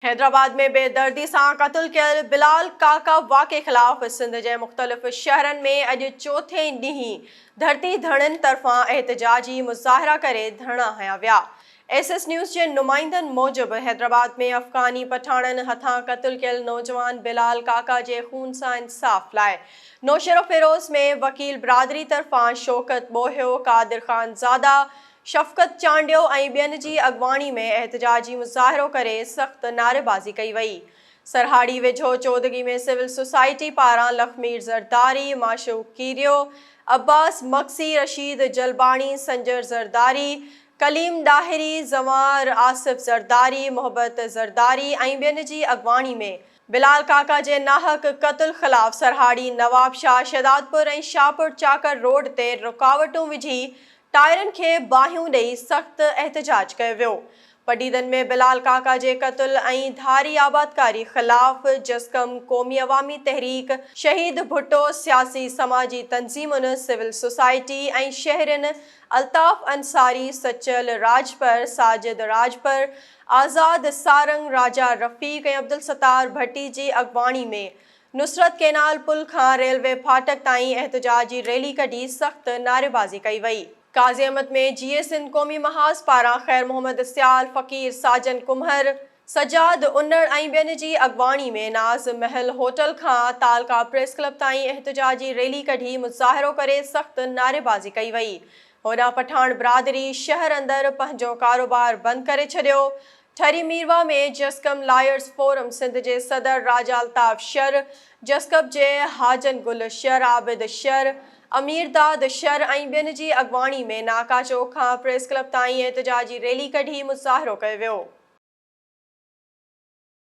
حيدرآباد ۾ بي دردي سان قتل ڪيل بلال ڪاڪا واقعي خلاف سنڌ جي مختلف شهرن ۾ اڄ چوٿين ڏينهن ڌرتي ڌڻين طرفان احتجاجي مظاهرا ڪري ڌرڻا هنيا ويا. ايس ايس نيوز جي نمائندن موجب حيدرآباد ۾ افغاني پٺاڻن هٿان قتل ڪيل نوجوان بلال ڪاڪا جي خون سان انصاف لاء نوشهروفيروز ۾ وڪيل برادري طرفان شوڪت ٻوهيو، قادر خان زاده، شفقت چانڊيو ۽ ٻين جي اڳواڻي ۾ احتجاجي مظاهرو ڪري سخت نعريبازي ڪئي وئي. سرهاڙي ويجهو چودڳي ۾ سول سوسائٽي پاران لخمير زرداري، معشوق ڪيريو، عباس مگسي، رشيد جلباڻي، سنجر زرداري، ڪليم ڏاهري، زنوار آصف زرداري، محبت زرداري ۽ ٻين جي اڳواڻي ۾ بلال ڪاڪا جي ناحق قتل خلاف سرهاڙي، نوابشاهه، شهدادپور ۽ شاهپور چاڪر روڊ تي رڪاوٽون وجهي ٽائرن کي باهيون ڏئي سخت احتجاج ڪيو ويو. پڊعيدن ۾ بلال ڪاڪا جي قتل ۽ ڌاري آبادڪاري خلاف جسقم، قومي عوامي تحريڪ، شهيد ڀٽو، سياسي سماجي تنظيمن، سول سوسائٽي ۽ شهرين الطاف انصاري، سچل راڄپر، ساجد راڄپر، آزاد سارنگ، راجا رفيق ۽ عبدالستار ڀٽي جي اڳواڻي ۾ نصرت ڪينال پل کان ريلوي ڦاٽڪ تائين احتجاجي ريلي ڪڍي سخت نعريبازي ڪئي وئي. قاضي احمد ۾ جي اي سنڌ قومي محاذ پاران خير محمد سيال، فقير ساجن ڪمهر، سجاد انڙ ۽ ٻين جي اڳواڻي ۾ ناز محل هوٽل کان تعلقه پريس ڪلب تائين احتجاجي ريلي ڪڍي مظاهرو ڪري سخت نعريبازي ڪئي وئي. هوڏانهن پٺاڻ برادري شهر اندر پنهنجو ڪاروبار بند ڪري ڇڏيو. ٺري ميرواهه ۾ جسقم لائرز فورم سنڌ جي صدر راجا الطاف شر، جسقب جي حاجن گل شر، عابد شر، امير داد شر ۽ ٻين جي اڳواڻي ۾ ناڪا چوڪ کان پريس ڪلب تائين احتجاجي ريلي ڪڍي مظاهرو ڪيو ويو.